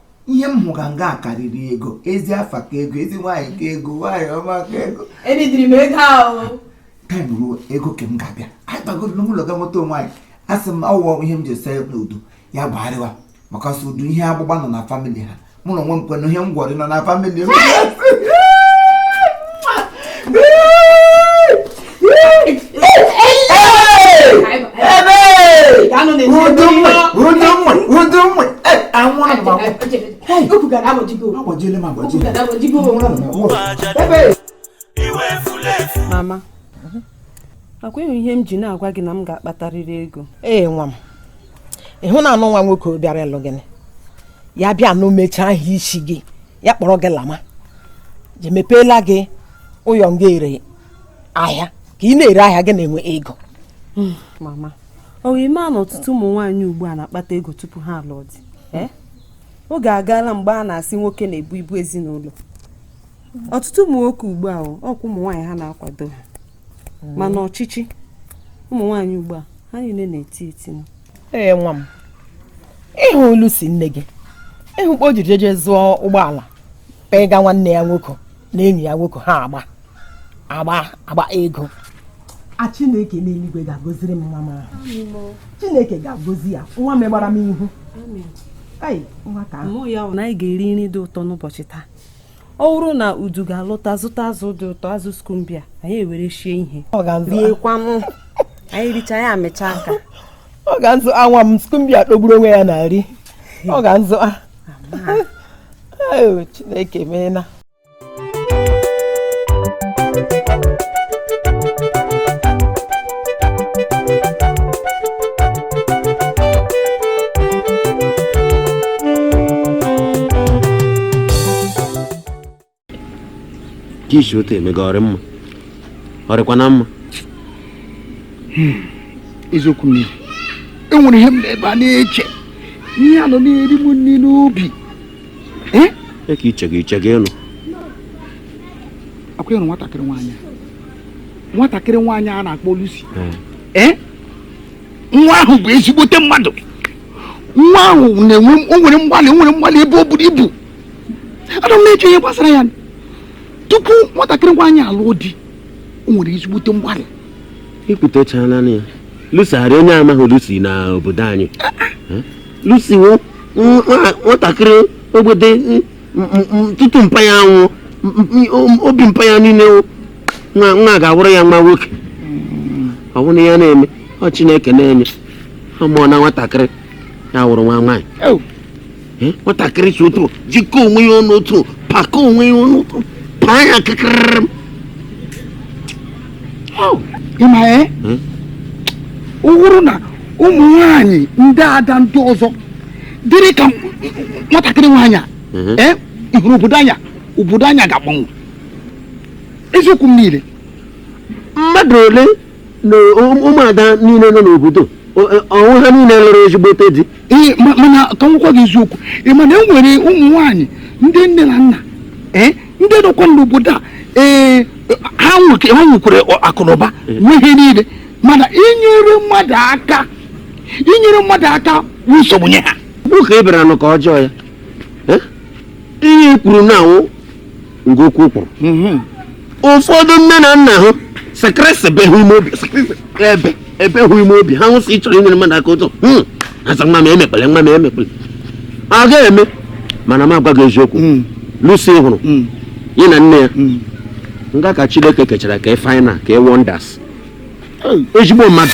ihe m hụga nga a karịrị ego ezi afa ka ego ezi nwaanyị ka ego nwaanyị ọma ka ego edidiri m ego ahụ taim ruo ego ka m ga-abịa anyị bagoro n'ụlọ ga nweta onwe anyị a sị m ọ wụwa ihe m ji ese n'udo ya gbagharịwa maka ọsọ udo ihe agbụgba nọ na famili ha mụ na onwe m kwenụ ihe ngwọrị nọ na famili m mama ọkwa ihe m ji na-agwa gị na m ga-akpatarịrị ego ee nwa m ị hụnanụ nwa nwoke bịara ịlụ gị ya bịa na mechaa ahụ isi gị ya kpọrọ gị lama je mepeela gị ụyọ nga ere ahịa ka ị na-ere ahịa gị na-enwe ego hmm, mama ọ wụ ị maa na ọtụtụ ụmụ nwaanyị ugbu a na-akpata ego tupu ha alụọ di eh? oge agaala mgbe a na-asị nwoke na-ebu ibu ezinụlọ ọtụtụ ụmụ nwoke ugbu a ọkwa ụmụ nwaanyị ha na-akwado ha hmm. mana ọchịchị ụmụ nwaanyị ugbu a ha niile na-eti eti ee nwa m ị hụ Lucy nne gị ị hụ kpa o jiri jeje zụọ ụgbọala ịga nwanne ya nwoke na enyi ya nwoke ha agba agba agba ego a chineke n'eluigwe ga-agoziri m nwa m ahụ chineke ga-agozi ya nwa megbara m ihu na anyị ga-eri nri dị ụtọ n'ụbọchị taa ọ bụrụ na udu ga-alọta zụta azụ dị ụtọ azụ skumbia anyị ewere shie ihe riekwanụ anyị richa ya amịcha aka ọ ga-azụ ya nwa m skumbia tọgburu onwe ya na nri ọ ga-azụ Chineke meela ka isi otu emega ọ rị mma ọ rịkwanụ mma hmm, eziokwu m enwere ihe m nọ ebe a na-eche ihe a nọ na-eri m nri n'obi ee e ka iche gị iche gịnị ọkwanụ nwatakịrị nwaanyị nwatakịrị nwaanyị a na-akpọ Lucy ee nwa ahụ bụ ezigbote mmadụ nwa ahụ na-enwe o nwere mgbalị o nwere mgbalị ebe o buru ibu anọ m na-eche ihe gbasara ya tupu nwatakịrị nwaanyị alụọ di o nwere ezigbote mgbalị i kwutechaala ya Lucy ọ rị onye amaghị Lucy na obodo anyị Lucy nwatakịrị ogbede tutu mpa ya anwụ obi mpa ya niile nwa ga-awụrụ ya nwa nwoke ọ bụrụ ya na-eme ọ chineke na-enye ọ mụọna nwatakịrị ya wụrụ nwa nwaanyị nwatakịrị si otu jikọ onwe ya ọnụ otu pakọ onwe ya ọnụ otu paa ya ka karịrị m ị ma ee ọ bụrụ na ụmụ nwanyị ndị ada ndị ọzọ dịrị ka nwatakịrị nwaanyị a ee ị hụrụ obodo anyị a obodo anyị a ga-agbanwe eziokwu m niile mmadụ ole na ụm- ụmụada niile nọ n'obodo o- e- ọ wụ ha niile lụrụ ezigbote di Ee, ma- mana ka m gwakwa gị eziokwu ị ma na e nwere ụmụ nwaanyị ndị nne na nna ee ndị nọkwa n'obodo a ee ha nweke- ha nwekwara ọ- akụnụba nwee ihe niile mana inyere mmadụ aka inyere mmadụ aka bụ nsogbu nye ha bụ ka ị bịara nụ ka ọjọọ ya Eh? ihe i kwuru na awụ nga okwu o kwuru Mhm. ụfọdụ nne na nna ha sekirisi be hụ ime obi sekirisi ebe ebe hụ ime obi ha nwụsị ịchọrọ inyere mmadụ aka ụtọ Hmm. asị nwa m emekpele nwa m emekpele ọ ga-eme mana m agwa gị eziokwu Mm. Lucy ị hụrụ Mm. ya na nne ya Mm. nga ka chineke kechara ka ị final ka ị wonders Hey. ezigbo mmadụ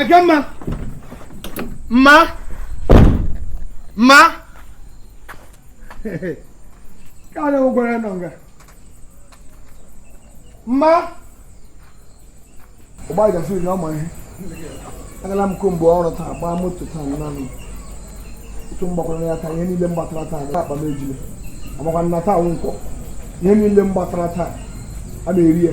Ekemma mma mma ka a na-enwe gwara nọ nga mma ọgba gafe na ọma ihe agala m ko mgbe ọrụ taa gbaa moto taa nanị otu m gbakwara ya taa ihe niile m gbatara taa n'akpa m ejile amakwa nna taa nwụkwọ ihe niile m gbatara taa a na-eri ya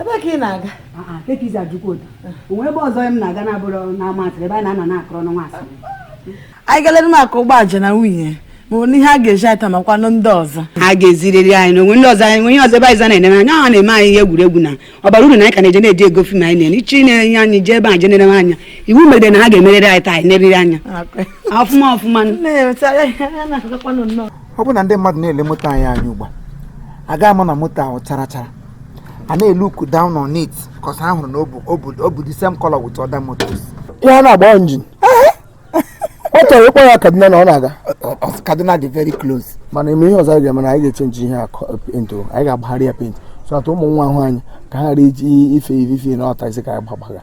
ebe ka ị na-aga kekizi ajụkwa ụda onwe ebe ọzọ m na-aga na-abụrụ n'ama asịrị ebe a na-anọ na-akọrọ n'ọnwa asịrị anyị galere m aka ụgbọ aja na nwunye ma onye ihe a ga-eji ata makwanụ ndị ọzọ ha ga-eziriri anyị na onwe ndị ọzọ anyị onye ọzọ ebe anyị za na-eneme anya ọ na-eme anyị ihe egwuregwu na ọ bara uru na anyị ka na-eje na-eji ego fim anyị na-enye ichi na-enye anyị jee ebe anyị je na-eneme anya iwu mere na ha ga-emerịrị anyị taa anyị neriri anya ọfụma ọfụma ọ bụ na ndị mmadụ na-ele moto anyị anya ugbu a a ga-ama na moto ahụ chara chara a na-elook down on it because ha hụrụ na ọ bụ the same color with other motors ihe a na-agba injin ọ chọrọ ịkpọ ya kaduna na ọ na-aga kaduna dị very close mana ị ma ihe ọzọ anyị ga-eme na anyị ga-echenji ihe paint anyị ga-agbagharị ya paint so that ụmụ nwa ahụ anyị ka ha ghara iji ife ife ife na ọta isi ka anyị gbagbaga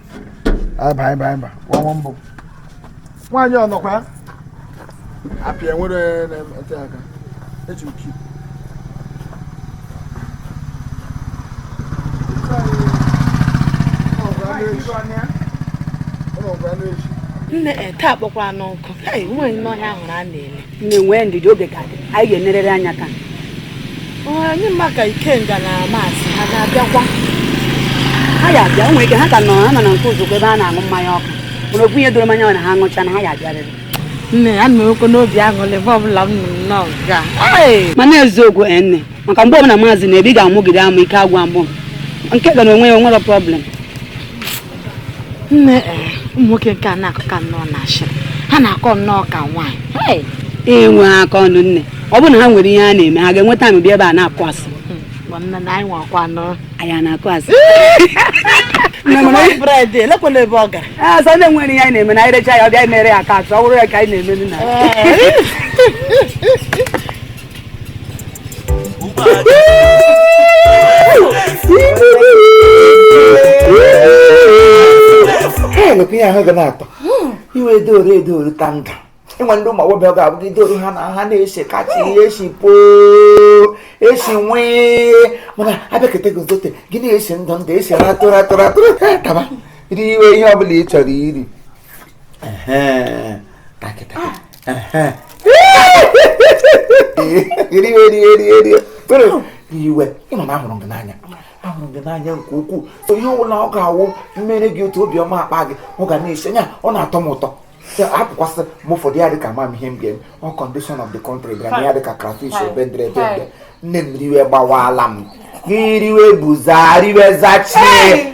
aba aba aba nwa mbụ nwaanyị ọnọkwa apịa nwere na-ete aka eji m kip nne eh, taa kpọkwara n'ọkụ nwaanyị n'ọhịa ahụrụ a na-ele na-enwe ndidi oge ka dị anyị ga-enerere anya ka anyị ma ka ikenga na maasị ha ga-abịakwa ha ya abịa o nwere ike ha ka nọ ha nọ na nke ụzọkwa ebe a na-aṅụ mmanya ọkụ mana otu ihe doro m anya ọ na ha ṅụcha na ha ya abịarịrị nne ya na okwu n'obi aṅụrị ebe ọbụla m nọ nnọọ ga mana eziokwu nne maka mgbe ọbụla maazị na-ebi ga-amụgide amụ ike agwa mbụ nke ga na onwe ya o nwere problem nne eh, ụmụ nwoke nke a na-akọ ka nnọọ na ashịrị ha na-akọ nnọọ ka nwaanyị Hey! enwe aka ọrụ nne ọ bụrụ na ha nwere ihe ha na-eme ha ga-enwe time bịa ebe a na-akụ asị Hmm, gwa nne na anyị nwakwa nọ anyị a na-akụ asị Nne m na- bred elekwala ebe ọ gara Ah, sọ ndị nwere ihe anyị na-eme na anyị recha ya ọ bịa mere ya ka atụ ọ bụrụ ya ka anyị na-eme nna elekwa ihe ahụ ga na-atọ iwe edooro edooro ta nga ị nwe ndị ụmụ agbọghọ ga-abụ gị dooro ha na ha na-esi kacha ihe esi poo esi nwee mana abịakọta gị zote gị na-esi ndụ ndụ esi ratụrụ atụrụ atụrụ taba i riwe ihe ọ bụla ị chọrọ iri riwe ị ma na ahụrụ gị n'anya ahụrụ gị n'anya nke ukwuu so ihe ọbụla ọ ga-awụ m mere gị otu obiọma akpa gị ọ ga na-esi anya ọ na-atọ m ụtọ hapụkwasị m ụfọdụ ya dịka mam ihe m ga-eme ọ condition of the country bịara na ya dịka crayfish ọ bendere ebende nne m riwe gbawala m gị riwe buza riwe zachie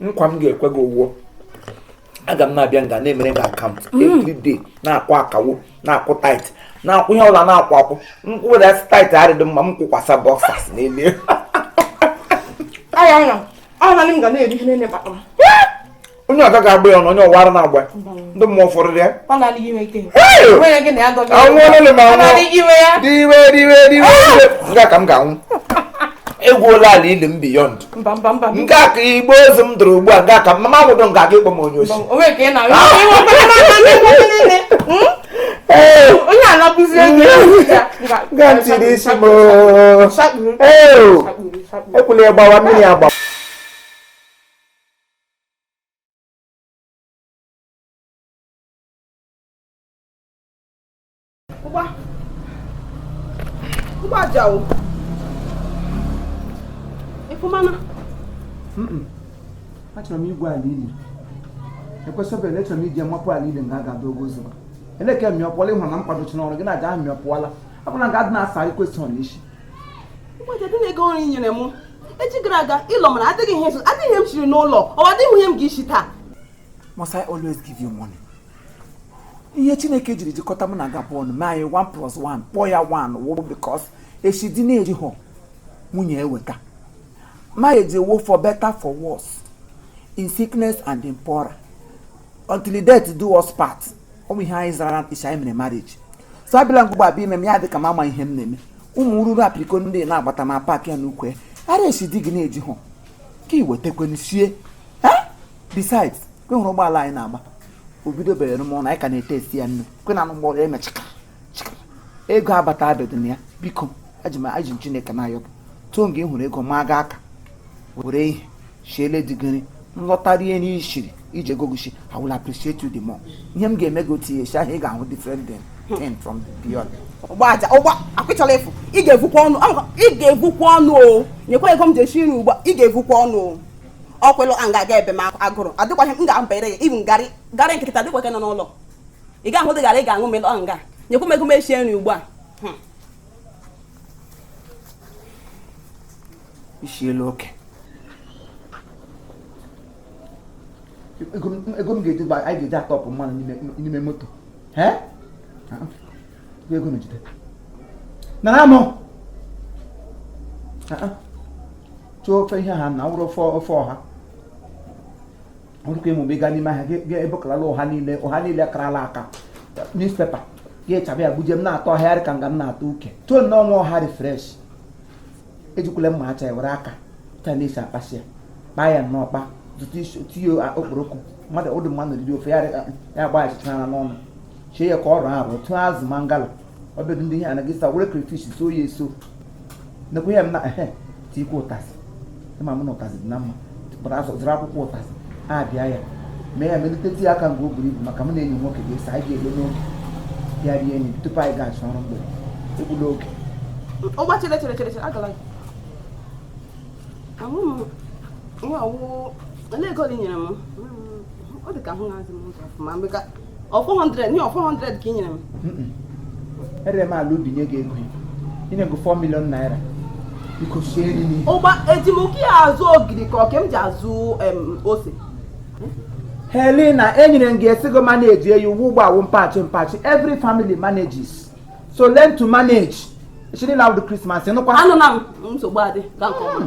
nkwa m ga-ekwe gị ọ wụ aga m na-abịa nga na-emere gị account mm. everyday na-akwụ akawo na-akwụ tithe na-akwụ ihe ọla na-akwụ akwụ m kwụweda tithe adịdị mma m kwụkwasa bọksas n'elu onye ọga ga-agba ya ọnụ onye ọwara na-agba ndị mmụọ ụfọdụ ya anwụọlele m anwụ diwe diwe diwe nga ka m ga-anwụ egwuola ala ili m biyond mba mba mba nga ka igbe ozu m dọrọ ugbu a nga ka m ga-anwụdụ nga ka ị kpọ m onye osi onye anabụzi ego nga m tiri isi m ekwula ya gbawa mmiri agbawa Pupa. Pupa jauh. Ibu mana? Mm -mm. Achọrọ m igwu ala ili. Ekwesịbere na achọrọ m iji amapụ ala ili nga a ga-adụ ogo ụzọ. Eleke mịọpụọla ịhụrụ na mkpadochi n'ọrụ gị na-aga ahụ mịọpụọla. Ọ bụla ga adị na-asa anyị kwesịrị n'isi. Ụmụ dị n'ego nri i nyere m. Echi gara aga ị lọ mara adịghị ihe adịghị ihe e siri n'ụlọ. Ọ adịghị ihe m ga-isi taa. Must I always give you money? ihe chineke jiri jikọta m na gị abụọ mee anyị 1 plus 1 kpọọ ya 1 wụrụ because eshi di na-ejihụ nwunye eweta marriage wụ for better for worse in sickness and in poor until death do us part ọ bụ ihe anyị zara eshi anyị mere marriage so abịala ugbu a bịa ime m ya dị ka m ama ihe m na-eme ụmụ ruru apiriko ndị na-agbata ma paakị ya n'uwe ara eshi di gị na-ejihụ ka i wetekwe sie besides kwe hụrụ ụgbọala anyị na-agba o bidobere ọrụ ma anyị ka na-etest ya nne kwe na anụgbọrọ eme chịka chịka ego abata abịadị na ya biko eji m aha chineke na-ayọ gị tụọ nga ị hụrụ ego ma aga aka were ihe shiere di gị iri m lọta rie n'ishiri ije gogoshi I will appreciate you the more ihe m ga-eme gị otu ihe si ahụ ị ga-ahụ different thing ten from the beyond. ọgba aja ọgba akwịchọla efu ị ga-evukwa ọnụ ị ga-evukwa ọnụ o nyekwa ego m ji esi nri ugbu a ị ga-evukwa ọnụ o ọkwelụ a ga-aga ebe m agụrụ adịkwaghị m ga-abanyere ya ibu garị garị nkịta adịkwaghị nọ n'ụlọ ị ga-ahụ dị gara ị ga-aṅụ m ọ nga nyekwu m ego m eshie nri ugbu a hmm. isi elu oke ego m ga-eji anyị ga-eji atọpụ mmanụ n'ime moto ego na jide nara m chụọ ofe ihe ha na wụrụ ofe ofe ọha ọ wụkwa ịmụ mgbe ị gaa n'ime ahịa gị ebekalala ụha niile ụha niile karala aka newspaper gị achaba ya gbuje m na-atọ ọhịarị ka nga m na-atọ uke too nnọọ nwa ọha dị fresh ejikwala mma acha ya were aka taa na-esi akpasị ya kpaa ya nnọọ kpa zụta isi tinye okporoko mmadụ ụdị mmadụ riri ofe ya gba achịcha n'ọnụ shie ya ka ọ rọọ arọ tụọ azụ mangala ọbịadụ ndị ihe anaghị sa were crayfish so ya eso nekwa ya m na ehe tikwa ụtazị ịma m na ụtazị dị na mma pụta azụ zụrụ akwụkwọ ụtazị abịa ya mee ya meliteti ya aka mgbe o buru ibu maka m na enyi nwoke ga-eso anyị ga-elo n'oge ya rie enyi tupu anyị ga-achọ ọrụ mgbede egbula oge ọgba chere chere chere chere agala ahụ m ihe ọ wụ wụ olee ego ole i nyere m ọ dị ka ahụ na-azị m ụzọ ọfụma mgbe ka ọ 400 nye ọ 400 ka ị nyere m erere m ala ubi nye gị ego m nye gị 4 million naira biko sie nri n'ihe ụgba eji m oke ya azụ ogiri ka ọ ka m ji azụ em, ose helena enyere m gị esigo manage eyi ụgwọ ugbu a wụ mpachi mpachi every family manages so learn to manage chiri na awụdụ Christmas nụkwa anụ na m nsogbu adị ka nke ọma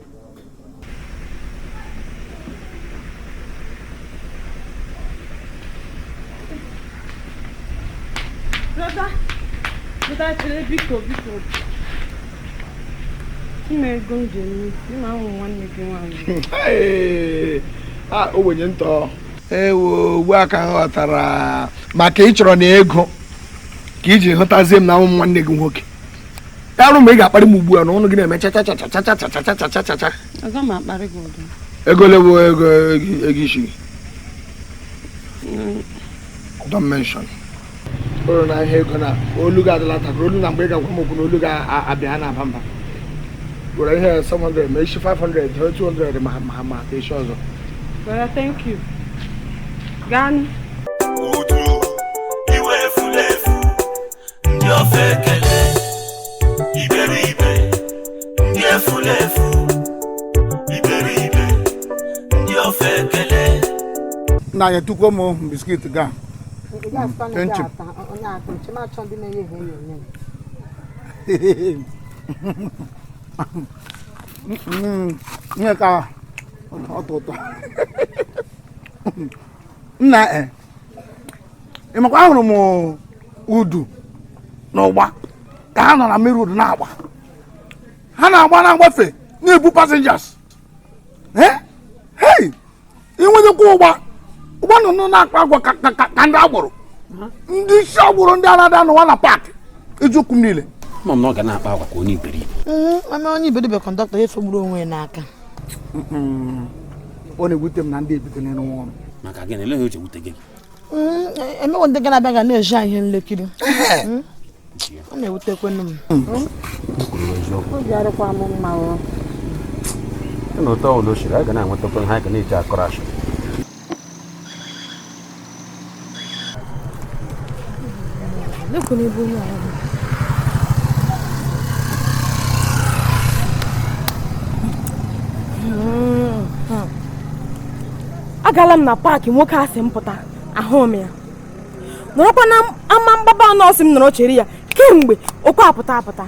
Brother, brother, chere biko biko. Nye m ego m ji eme isi m wụ nwanne gị nwaanyị. A ogbenye ntụ. Ewo ugbu a ka m ghọtara maka ị chọrọ ịna ego ka i ji hụtazie m na awụ m nwanne gị nwoke. arụ mgbe ị ga-akparị m ugbu a na ọnụ gị na-eme chachacha Aga m akparị gị ụdị. ego ole bụ ego ego- ego isi gị don't mention olu na ihe ego na olu gị adịla takụrụ olu na mgbe ị ga-agwa m okwu na olu ga-abịa ha na-aba mba gwara ihe 700 ma isi 500 ha 200 ma ma ma ka isi ọzọ Well, thank you. Gaa nụ. uju iwe efu na-efu ndị ofeke le iberibe ndị efulefu iberibe ndị ofeke le nna nyetụkwuo m biskit ga chinchin. Mm, ihe ka atọ ụtọ nna e ị makwa ahụrụ m udu na ụgba ka ha nọ na mmiri udu na-agba ha na-agba na-agbafe na-ebu passengers hei inwenyekwa ụgba ụgba nọ nọ na-akpa agwa ka ndị agboro ndị isi agboro ndị a na-adị anọwa na paakị eziokwu m niile ma m na ọ ga na-akpa agwa ka onye iberibe ma onye iberibe kọndọktọ ya esogburu onwe ya n'aka ọ na-ewute m na ndị a bi n'ụlọ maka gịnị olee ihe o ji ewute gị mm, e, emewe ndị ga na-abịa ga na-eji anyị ihe nlekiri mm, ọ na-ewutekwanụ m mm. obi arụkwa m mma n'ụdị ụlọ asịrị a ga na-enwetakwa ihe a ga na-eji akọrọ ashị agala m na paakị nwoke a sị m pụta ahụ m ya nọrọkwa na ama mgbaba nọọ sị m nọrọ chere ya kemgbe o kwe apụta apụta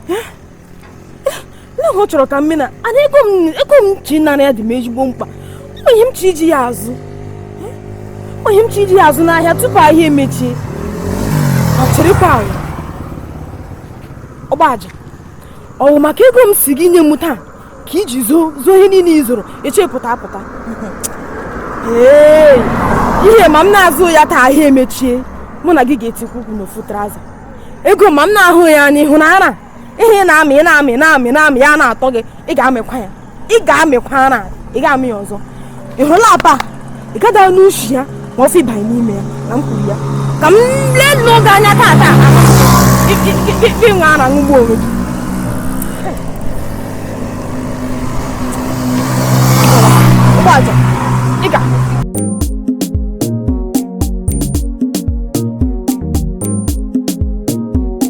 eh? na ọ chọrọ ka m mena na ego m chọ ịnara ya dị m ezigbo mkpa o nwe ihe m chọ iji ya azụ o nwe ihe m chọ iji ya azụ n'ahịa tupu ahịa emechie ọ chịrịkwa ala ọgbaja ọ wụ maka ego m sị gị nye m taa ka i ji zụọ ihe niile ị zụrụ echi pụta apụta ee ihe ma m na-azụ ya taa ahịa emechie mụ na gị ga-etikwa ụkwụ n'ofu trouser ego ma m na-ahụ ya anya ịhụ na ara ihe ị na-amị ị na-amị na-amị na-amị ya na-atọ gị ị ga-amịkwa ya ị ga-amịkwa ara ị ga-amị ya ọzọ ị hụla apa ị gada n'ushi ya ma ọfụ ịbanye n'ime ya na m kwuru ya ka m leenụ gị anya taa taa gị were ara ṅụgbu onwe gị Ugboaja ị ga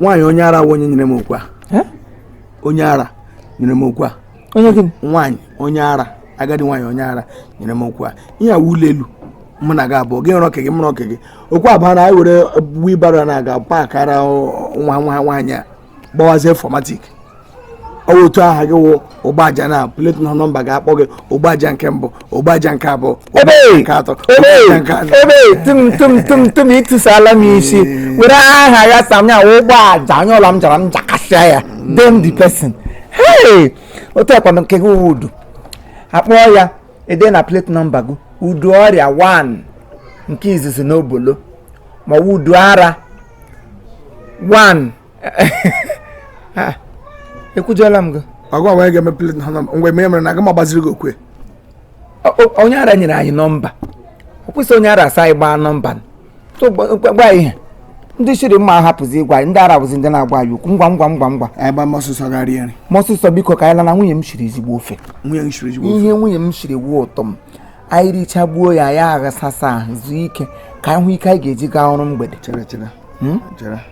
nwaanyị onye ara onye nyere m okwu a onye ara nyere m okwu a onye gịnị nwaanyị onye ara agadi nwaanyị onye ara nyere m okwu a ihe a wụ ụlọ elu mụ na gị abụọ gị rụọ nke gị mụ rụọ nke gị okwu a baa na anyị were wheelbarrow na-aga kpakara nwa nwa nwaanyị a gbawazie fọmatik ọ wụ otu aha gị wụ Ugboaja na plate nọmba ga-akpọ gị Ugboaja nke mbụ Ugboaja nke abụọ nke atọ tụmtụmtụmtụm ịtụsala m isi were aha ya sị m ya wụ Ugboaja onye ọla m jara m jakasịa ya damn the person hey otu a kwanụ nke gị udu akpọọ ya edee na plate nọmba gị udu ọrịa 1 nke izizi n'obolo ma udu ara 1 ah, ekwujọla m gị ọgwa wee ga-eme plate na mgbe mere mere na aga m agbaziri gị okwe onye ara nyere anyị nọmba ọ kwụsị onye ara asị anyị gbaa nọmba gwa ihe ndị ishi rị mma ahapụzi ịgwa anyị ndị ara bụzi ndị na-agwa anyị okwu ngwa ngwa ngwa ngwa anyị gbaa mọsụsọ gaa rie nri mọsụsọ biko ka anyị lana nwunye m shiri ezigbo ofe ihe nwunye m shiri wụ ụtọ m anyị richagbuo ya ya aghasasa ahụ zuo ike ka anyị hụ ike anyị ga-eji gaa ọrụ mgbede hmm?